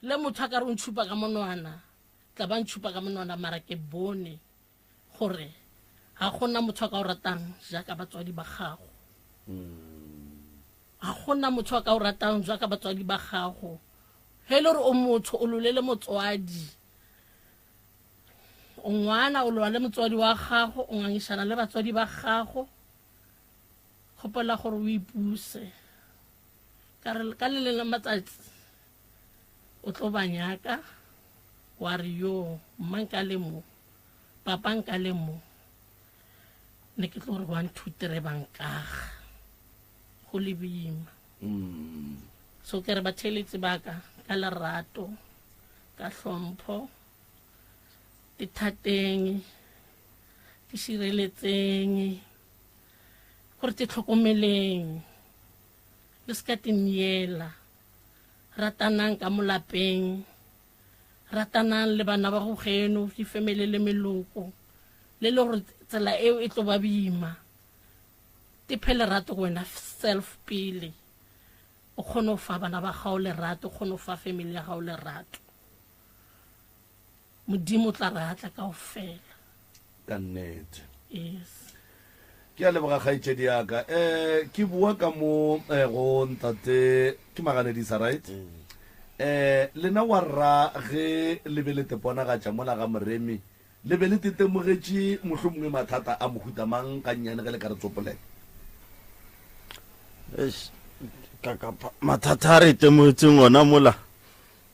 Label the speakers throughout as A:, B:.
A: Le motho a ka re o ntšhupa ka monwana, tla ba ntšhupa ka monwana, mara ke bone gore ga gona motho a ka o ratang jaaka batswadi ba gago. Ga gona motho a ka o ratang jaaka batswadi ba gago. Ge e le gore o motho, o lolele motswadi. O ngwana, o lola le motswadi wa gago, o ngangišana le batswadi ba gago. Gopola gore o ipuse. Ka re, Ka le leng la matsatsi o tlo ba nyaka. Wa re, Yo, mma nka le mo, papa nka le mo, ne ke tlo re one two three ba nkaga go le bima. Mm. So ke re batheeletsi ba ka ka lerato, ka hlompho, ithateng, itšhireletseng. gore te tlhokomeleng, le se ka te miela. Ratanang ka mo lapeng, ratanang le bana ba go geno, difemele le meloko, le le gore tsela eo e tlo ba bima. Te phe lerato go wena self pele, o kgone go fa bana ba gago lerato, o kgone go fa family ya gago lerato. Modimo o tla re atla ka ofela. Ka
B: nnete. Yes.
A: Ke a
B: leboga kgaitšedi yaka. Eh ke bua ka mo eh, go ntate ke maganedisa right? Mm. Eh lena wa rra ge le be le teponagatša mola ga Moremi le be le tetemogetše mohlomongwe mathata a mohuta mang ga nnyane ge le ka re tsopolela? Eish,
C: ka kapa mathata a re itemogetseng ona mola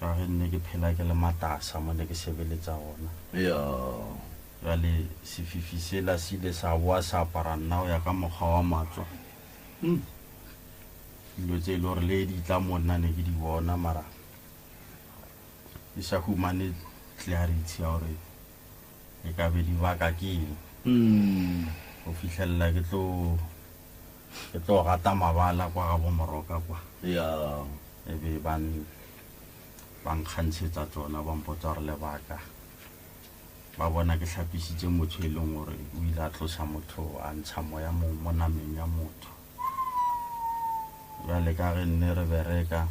C: Ka ge nne ke phela ke le matasa mo ne ke sebeletsa gona. Bjale sefifi sela se ile sa boa sa apara nna go ya ka mokgwa wa matswa. Dilo tse e le gore le di tla mo nna ne ke di bona mara ke sa humane clarity ya gore. Ke ka be di baka ke eng? Go fihlelela ke tlo ke tlo gata mabala kwa ga bo Moroka kwa. Yeah. E be ba ba nkgantshetsa tsona ba mpotsa gore lebaka ba bona ke hlapisitse motho e leng gore o ile a tlosa motho a ntsha moya mo mo nameng ya motho. Bjale ka ge nne re bereka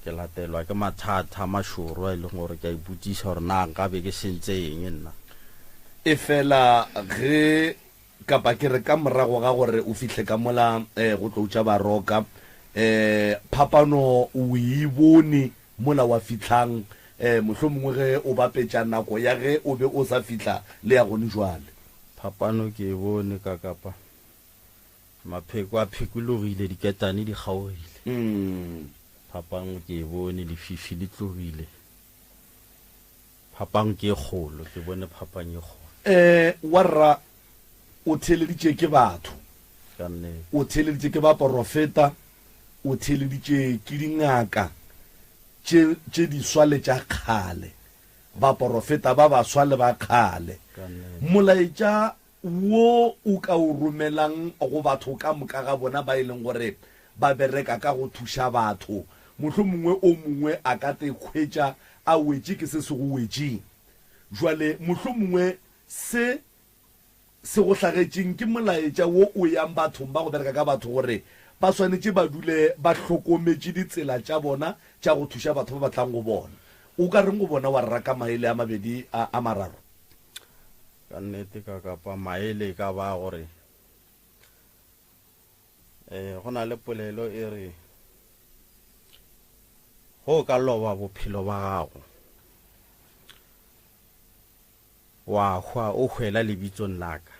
C: Ke latelwa ke mathata a mašoro a e leng gore ke a ipotšiša gore na nka be ke sentse eng nna. Efela
B: ge, kapa ke re ka morago ga gore o fihle ka mola go tlo tša baroka, phapano o e bone mola wa fihlang, mohlomongwe ge o bapetša nako ya ge o be o sa fihla le ya gone bjale? Phapano ke
C: e bone ka kapa Mapheko a phekologile, diketane di kgaogile. Phapang ke e bone, lefifi le tlogile. Phapang ke e kgolo, ke bone phapang e kgolo. Ee, warra,
B: o theeleditše ke batho. Ka nnete.
C: O theeleditše ke
B: baporofeta, o theeleditše ke dingaka tše, tše diswa le tša kgale, baporofeta ba baswa le ba kgale. Ka nnete. Molaetša wo o ka o romelang go batho ka moka ga bona ba e leng gore ba bereka ka go thuša batho. Mohlomongwe o mongwe a ka te hwetša a wetše ke se se go wetšeng. Bjale, mohlomongwe se se go hlagetšeng ke molaetša wo o yang bathong ba go bereka ka batho gore ba swanetše ba dule ba hlokometše ditsela tša bona tša go thuša batho ba ba tlang go bona. O ka reng go bona wa rera ka maele a mabedi a mararo?
C: Ka nnete ka kapa maele e ka ba gore eh, go na le polelo e re go ka loba bophelo ba gago wa hwa o hwela lebitsong laka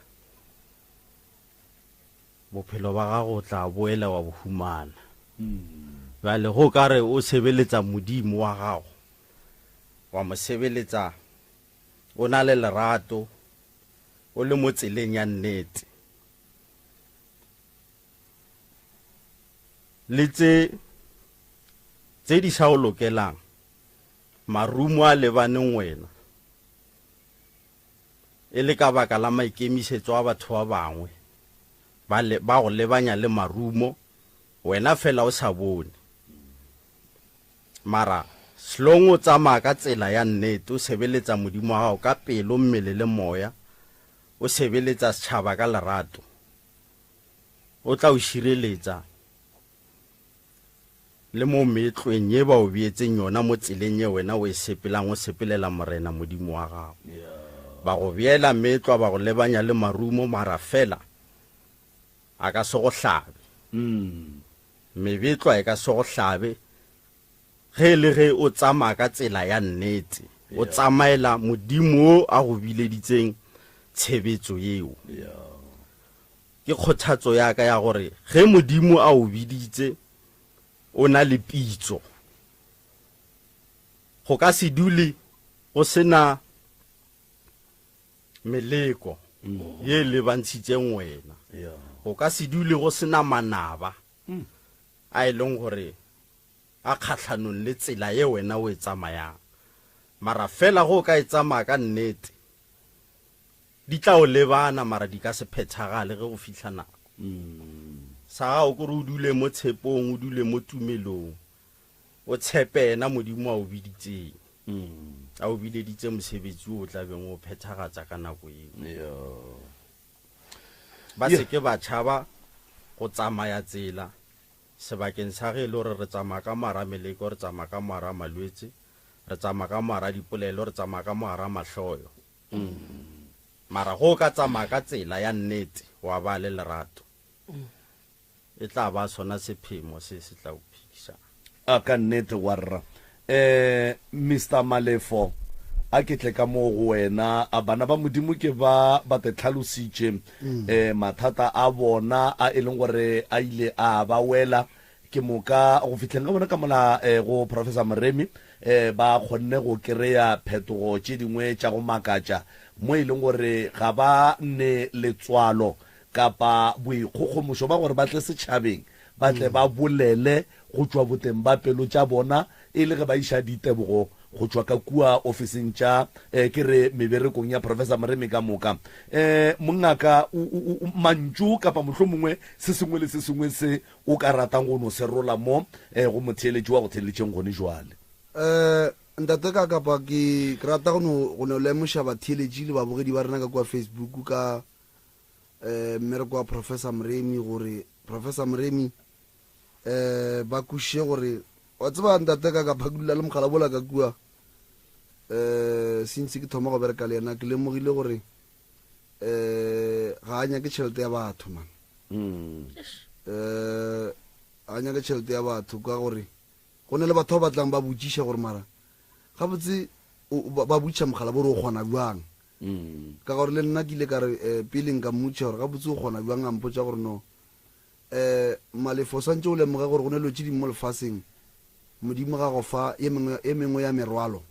C: bophelo ba gago o tla boela wa bohumana hmm. bjale go ka re o sebeletsa modimo wa gago wa mo sebeletsa o na le lerato, o le mo tseleng ya nnete, le tše tše di sa o lokelang, marumo a lebaneng wena, e le ka baka la maikemišetso a batho ba bangwe, ba le, ba go lebanya le marumo, wena fela o sa bone. Mara, hlong o tsamaya ka tsela ya nnete, o sebeletsa Modimo wa gago ka pelo, mmele le moya, o sebeletsa setšhaba ka lerato, O tla o šireletsa le mo meetlweng ye ba o beetseng yona mo tseleng ye wena o e sepelang o sepelela Morena Modimo wa gago. Ba go beela meetlwa, ba go lebanya le marumo, mara feela, A ka se go hlabe. Mebetlwa e ka se go hlabe ge e le ge o tsamaya ka tsela ya nnete, o tsamaela Modimo yo a go bileditseng tshebetso yeo. Ke kgothatso ya ka ya gore ge Modimo a o biditse, o na le pitso. Go ka se dule go se na. Meleko ye e lebantshitseng wena. Go ka se dule go se na manaba a e leng gore a kgatlhanong le tsela ye wena o e tsamayang. Mara fela ge o ka e tsamaya ka nnete, di tla o lebana mara di ka se phethagale ge go fihla nako. Sa gago ke gore o dule mo tshepong, o dule mo tumelong. O tshepe yena Modimo a o biditseng. A o bileditse mosebetsi o o tla beng o phethagatsa ka nako eo. Ba se ke ba tšhaba go tsamaya tsela sebakeng sa ge e le gore re tsamaya ka mogara meleko, re tsamaya ka mogara malwetse, re tsamaya ka mogara dipolelo, re tsamaya ka mogara mahloyo. Mara ge o ka tsamaya ka tsela ya nnete, wa ba le lerato, e tla ba sona sephemo se se tla o phedišago. A ka nnete,
B: warra. Um, Mister Malefo, a ke tle ka moo go wena. A bana ba Modimo ke ba ba te tlhalositše um mathata a bona a e leng gore a ile a ba wela ke moka go fihleng ga bona ka mola um go Professor Moremi um ba kgonne go kry-a phetogo tše dingwe tša go makatša mo e leng gore ga ba ne letswalo kapa boikgogomošo ba gore ba tle setšhabeng, ba tle ba bolele go tšwa boteng ba pelo tša bona e le ge ba iša ditebogo go tšwa ka kua ofising tša, eh, ke re meberekong ya Professor Moremi ka moka. Eh, mongaka, u, u, u, mantšu kapa mohlomongwe se sengwe le se sengwe se o ka ratang go no se rola mo, eh, go motheeletši wa go theeletšeng gone bjale? Eh,
D: Ntate ka kapa ke, ke rata go no, go no lemoša batheeletši le babogedi ba rena ka kua Facebook ka, eh, mmereko wa Professor Moremi, gore Professor Moremi eh, ba kuše gore wa tseba ntate ka ka phakulela le mogala bola ka kua eh, since ke thoma go bereka le yena ke lemogile gore eh, ga a nyake tšhelete ya batho man mm. eh, a nyake tšhelete ya batho ka gore go ne le batho ba batlang ba botšiša gore mara gabotse ba botšiša mogala bo re o kgona bjang Ka gore le nna ke ile ka re, pele nka mmotšiša gore gabotse o kgona bjang, a mpotša gore, No. Um, Malefo, o swantše o lemoge gore go na le dilo tše dingwe mo lefaseng. Modimo ga go fa ye mengwe, ye mengwe ya merwalo.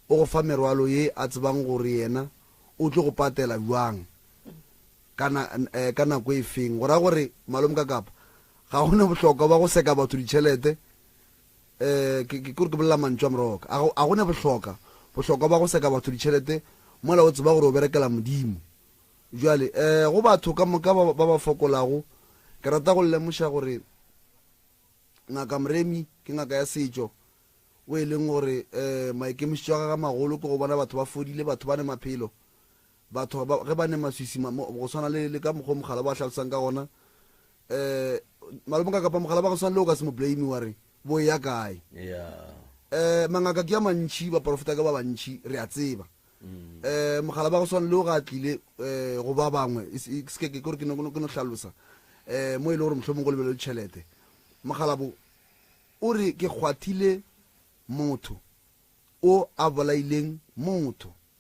D: O go fa merwalo ye a tsebang gore Yena o tlo go patela bjang, ka na, um, ka nako e feng. Go ra gore, Malome Kakapa, ga go na bohlokwa bja go seka batho ditšhelete, Ke re ke bolela mantšu a moroka a go, a go ne bohloka, bohlokwa ba go seka batho ditšhelete mola o tseba gore o berekela Modimo. Bjale, go batho ka moka ba, ba ba fokolago, ke rata go le lemoša gore Ngaka Mremi ke ngaka ya setšo, wo e leng gore maikemišetšo a gagwe a magolo ke go bona batho ba fodile, batho ba ne maphelo. Batho ba, ge ba ne maswisi, ma, mo, go swana le, le ka mokgwa o mogala ba hlalosang ka gona, um, malome ka kapa mogala ba go swana le o ka se mo blame wa re, bo eya kae? Um, mangaka ke a mantši, baporofeta ke ba bantši, re a tseba. Um, mogala ba go swana le o ga a tlile, um, go ba bangwe, e se, se ke, ke gore ke no, ke no hlalosa, um, mo e le gore mohlomong go lebelelwe tšhelete. Mogala bo, o re, ke kgwathile motho o a bolaileng motho.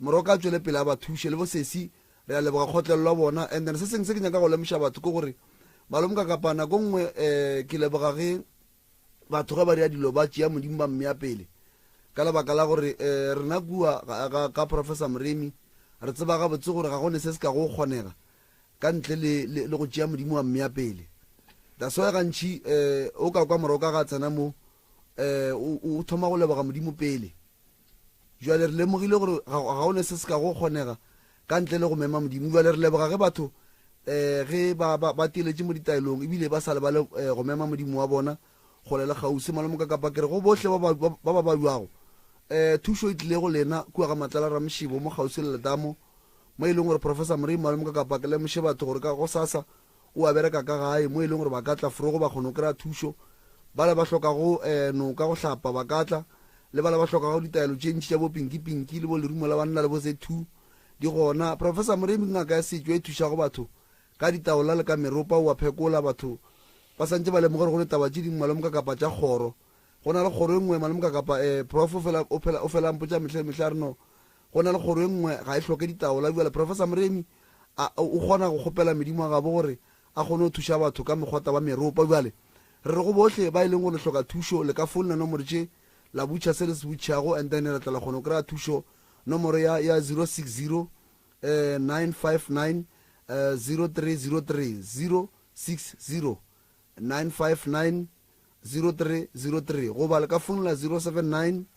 D: Morwa ka a tšwele pele a ba thuše. Le bo sesi, re a leboga kgotlelo ya bona. And then se sengwe se ke nyaka go lemoša batho ke gore, Malome Kakapa, nako nngwe ke leboga ge batho ge ba dira dilo ba tšea Modimo ba mmea pele, ka lebaka la gore rena kua ga ka Professor Moremi re tseba gabotse gore ga go ne se se kago go kgonega ka ntle le le go tšea Modimo wa mmea pele. That's why gantši o ka kwa Morwa ka ga a tsena mo o thoma go leboga Modimo pele. Bjale re lemogile gore ga, ga o ne se se ka go kgonega ka ntle le go mema Modimo. Bjale re leboga ge batho um ge ba, ba, ba teletše mo ditaelong ebile ba sa lebale um go mema Modimo wa bona kgole le kgauswi. Malome Mokakapa, ke re go bohle ba ba, ba, ba ba balwago, um thušo e tlile go lena kua ga Matlala Ramošebo mo kgauswi le letamo mo e leng gore Professor Morei. Malome Mokakapa, ke lemoše batho gore ka gosasa o a bereka ka gae mo e leng gore ba ka tla fro go ba kgona go kry-a thušo. Bale ba hlokago noka go hlapa ba ka tla, le bale ba hlokago ditaelo tše ntši tša bo Pinky Pinky le bo Lerumo la Banna le bo Ze Two di gona. Professor Moremi ke ngaka ya setšo e thušago batho ka ditaola le ka meropa, o a phekola batho ba sa ntše ba lemoga gore go le taba tše dingwe malome Kakapa tša kgoro. Go na le kgoro e nngwe malome Kakapa, Prof o fela o fela o fela a mpotša mehla le mehla a re no, Go na le kgoro e nngwe, ga e hloke ditaola. Bjale, Professor Moremi, a, o kgona go kgopela Modimo wa gabo gore a kgone go thuša batho ka mekgota wa meropa. Bjale, re re go bohle ba e leng gore le hloka thušo, le ka founela nomoro tše, la butšha se le se butšhago, and then re tla la kgona go kry-a thušo, nomoro ya, ya 060 959 0303, 060 959 0303, goba le ka founela 079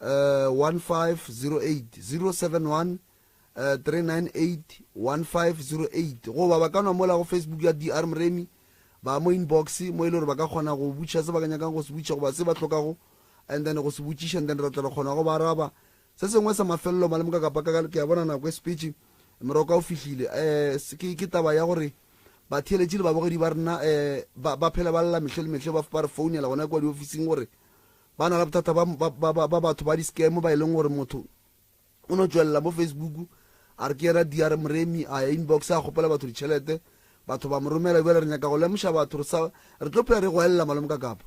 D: 15080713981508 goba ba ka nwa mola go facebook ya dr mremi ba mo inbox mo e le gore ba ka kgona go botšiša se ba ka nyakang go se botšiša goba se ba hlokago and then go se botšiša and then re tla re kgona go ba araba se sengwe sa mafelelo malemoka kapa ka ke a bona nako e sepetše moroko o fihlile um ke taba ya gore batheeletši le babogedi ba rena um ba phela ba lela mehle le mehle ba re founela gona kwa diofising gore Ba na le bothata ba, ba, ba, ba, ba batho ba di-scam ba e leng gore motho o no tšwelela mo Facebook a re ke yena DR Moremi, a ya inbox a kgopela batho ditšhelete, batho ba mo romela. Bjale re nyaka go lemoša batho re sa, re tlo phela re go elela Malome Kakapa,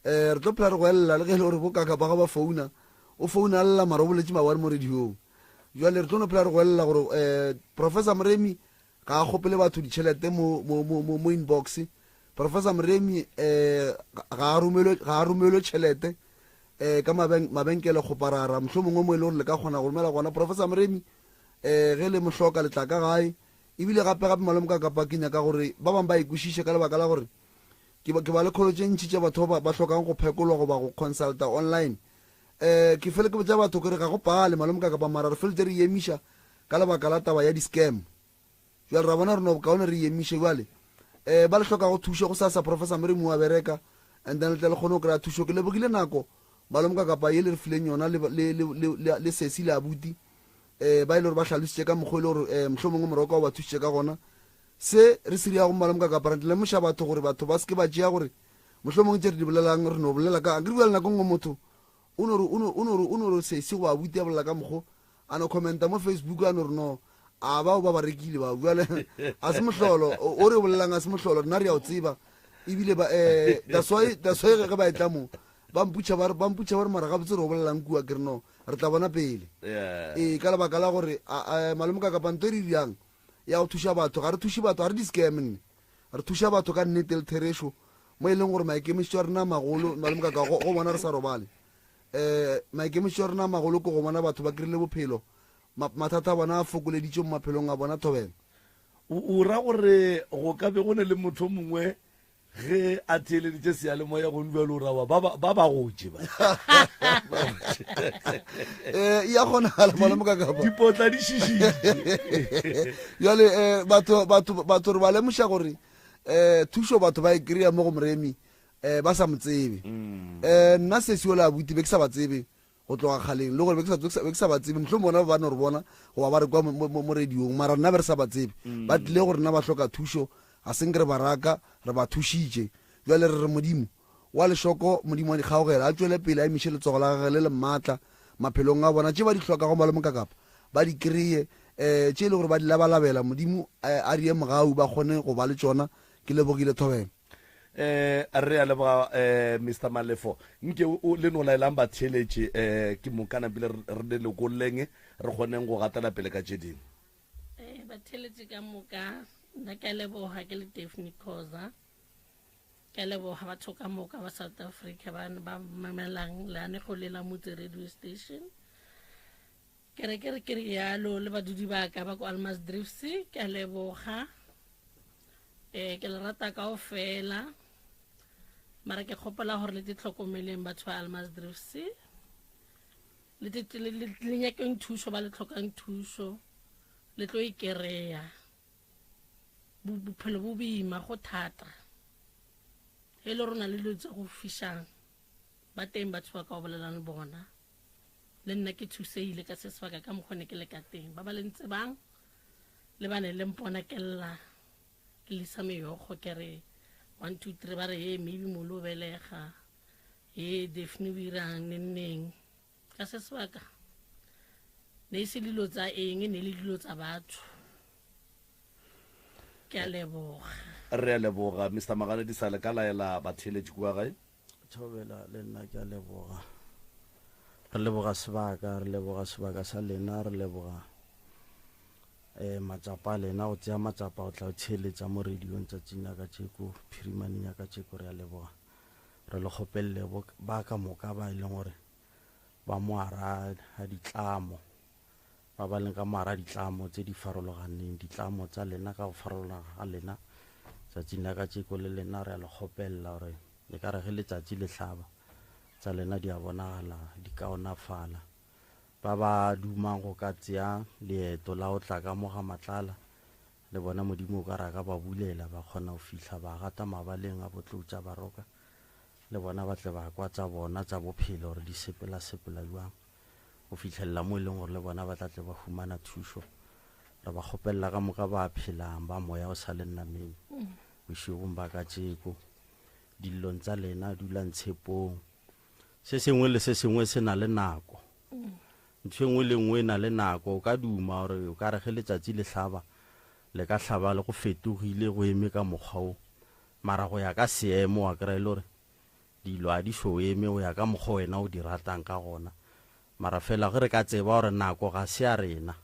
D: um re tlo phela re go elela le ge e le gore bo Kakapa ga ba founa, o founa lla mara o boletše mawari mo radiong. Bjale re tlo no phela re go elela gore um Professor Moremi, Ga a kgopele batho ditšhelete mo, mo, mo, mo, mo inbox. Professor Mremi um ga a romelwe, ga a romelwe tšhelete um ka mabeng, mabenkele kgoparara. Mohlomongwe mo e le gore le ka kgona go romela gona. Professor Mremi um ge le mo hloka le tla ka gae. Ebile gape gape malome ka kapa ke nyaka gore ba bangwe ba e kwešiše ka lebaka la gore ke ba, ke ba le kholo tše ntši tša batho ba ba hlokang go phekolwa goba go consulta online. Um ke fele ke botša batho ke re ga go pale malome ka kapa mara re feletše re e emiša ka lebaka la taba ya di scam jwale ra bona re no bokaone re emiše jwale um ba le hlokago thušo go sa sa professor mere mo wa bereka and then le tle le kgone go kry-a thušo ke lebogile nako malomoka kapa ye le re fileng yona le, le, le, le, le, le sesi le abuti um ba e le gore ba hlalositše ka mokgwa e le gore um eh, mohlho mongwe moroko o ba thušitše ka gona se re se riago malomoka kapa re lemoša batho gore batho ba seke ba tšea gore mohlho mongwe tše re di bolelang re no bolela ka akere bjale nako nngwe motho o no re sesi goba abuti a bolela ka mokgwa A no commenta mo Facebook, a no re no, a bao ba ba rekile bao. Bjale, a se mohlolo, o re o bolelang a se mohlolo, rena re ya o tseba. Ebile ba, eh, that's why, that's why ge ba etla mo, ba mputšha ba re, ba mputšha ba re mara gabotse re o bolelang kua, ke re no, re tla bona pele. Ee, ka lebaka la gore, a, a, Malome Kakapa, nto e re dirang, ya go thuša batho, ga re thuše batho, ga re di-scam nne. Re thuša batho ka nnete le therešo, mo e leng gore maikemišetšo a rena a magolo, Malome Kakapa, go, go bona re sa robale. Ee, maikemišetšo a rena a magolo ke go bona batho ba krile bophelo, ma, mathata a bona a fokoleditšwe mo maphelong a bona. Thobela. O, o ra
B: gore go ka be go ne le motho o mongwe ge a theeleditše seyalemoya go nbjalo, o ra wa, ba, ba, ba ba gotše ba. ba gotše.
D: Ee, e a kgonagala, malome ka kapa. Dipotla di šišitše.
B: Bjale, eh,
D: batho, batho, batho re ba lemoša gore, eh, thušo batho ba e kry-a mo go Moremi, Eh, ba sa mo tsebe. Eh, nna sesi ola abuti, be ke sa ba tsebe go tloga kgaleng, le gore be ke sa- be ke sa- be ke sa ba tsebe. Mohlomong bona ba ba no re bona goba ba re kwa mo- mo mo- mo radiong, mara nna be re sa ba tsebe. Ba tlile go rena ba hloka thušo, ga seng ke re ba raka, re ba thušitše. Bjale re re Modimo wa lešoko, Modimo wa dikgaogelo, a tšwele pele a emiše letsogo la gage le le maatla maphelong a bona. Tše ba di hlokago Malome Mokakapa, ba di kreye, eh, tše e le gore ba di labalabela, Modimo eh, a rie mogau ba kgone go ba le tšona. Ke lebogile thobela. Eh,
B: re a leboga eh, Mr Malefo nke o le no laelang batheeletše eh, ke mokana pele re re le lekoleng re kgoneng go gatela pele ka tše dingwe Eh,
A: batheeletše ka moka nna ke a leboga ke le daphne cosa ke a leboga batho ka moka ba south africa ba ba mamelang leanego le la motse radio station Ke re ke re ke rialo le badudi ba ka ba ko Almas Drifts ke a leboga eh ke le rata kao fela mara ke kgopela gore le te tlhokomeleng batho ba Almas Drifts le te le le- le nyakeng thušo ba le tlhokang thušo le tlo e kereya Bo- bophelo bo boima go thata e le rona le dilo tse go fišang ba teng batho ba ka o bolelang le bona Le nna ke thusehile ka se sebaka ka mokgwa ne ke le ka teng. Ba ba le ntsebang le ba ne le mpona ke lla, ke lisa meyokgo ke re, One, two, three, ba re, Hee, Maybe Molly o belega. Hee, Daphne o irang nenneng. Ka se sebaka ne e se dilo tsa eng, e ne e le dilo tsa batho. Ke a leboga. Re a leboga,
B: Mister Maganedisa. Le ka laela batheeletši kua gae? Thobela le
C: nna ke a leboga. Re leboga sebaka, re leboga sebaka sa lena, re leboga eh matsapa a lena go tsea matsapa go tla go theeletsa mo radio-ng tsatsing la kacheko, phirimaneng ya kacheko. Re a leboga, re le kgopelele bo ba ka moka ba e leng gore ba moara ga ditlamo. ba ba leng ka moara ditlamo tse di farologaneng, ditlamo tsa lena ka go farologana ga lena, tsatsing la kajeko le lena re a le kgopelela gore e ka re ge letsatsi le hlaba, tsa lena di a bonagala di kaonafala. Ba ba dumang go ka tsea leeto la go tla ka mo ga Matlala, le bona Modimo o ka re a ka ba bulela, ba kgona go fihla ba gata mabaleng a Botlotša Baroka, le bona ba tle ba kwa tsa bona tsa bophelo gore di sepela-sepela bjang. go fihlelela mo e leng gore le bona ba tla tle ba humana thušo re ba kgopelela ka moka ba phelang ba moya o sa le nnameng bošegong ba ka tšeko dillong tsa lena dulang tshepong se sengwe le se sengwe se na le nako ntho e nngwe le nngwe e na le nako o ka duma gore o ka re ge letsatsi le hlaba le ka hlaba le go fetogile go eme ka mokgwa o mara go ya ka seemo wa kry-e le gore Dilo a di so eme go ya ka mokgo wena o di ratang ka gona. Mara fela ge re ka tseba gore nako ga se ya rena,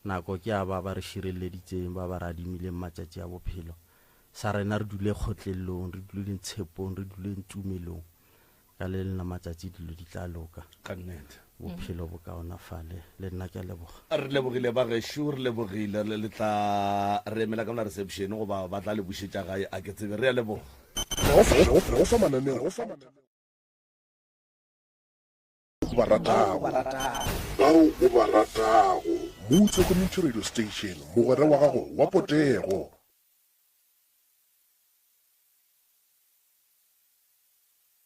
C: nako ke ya ba ba re širelleditseng, ba ba re adimileng matšatši a bophelo, sa rena re dule kgotlellong, re duleng tshepong, re duleng tumelong. Ka le lena matšatši dilo di tla loka. Ka nnete.
B: Bophelo bo
C: kaonafale. Le nna ke a leboga. Re lebogile bagešo,
B: re lebogile. Le le tla re emela ka mona reception goba ba tla le bušetša gae a ke tsebe. Re a leboga. Re go fa mananeo
E: o ba ratago, bao o ba ratago. Mutse Community Radio Station, mogwera wa gago wa potego.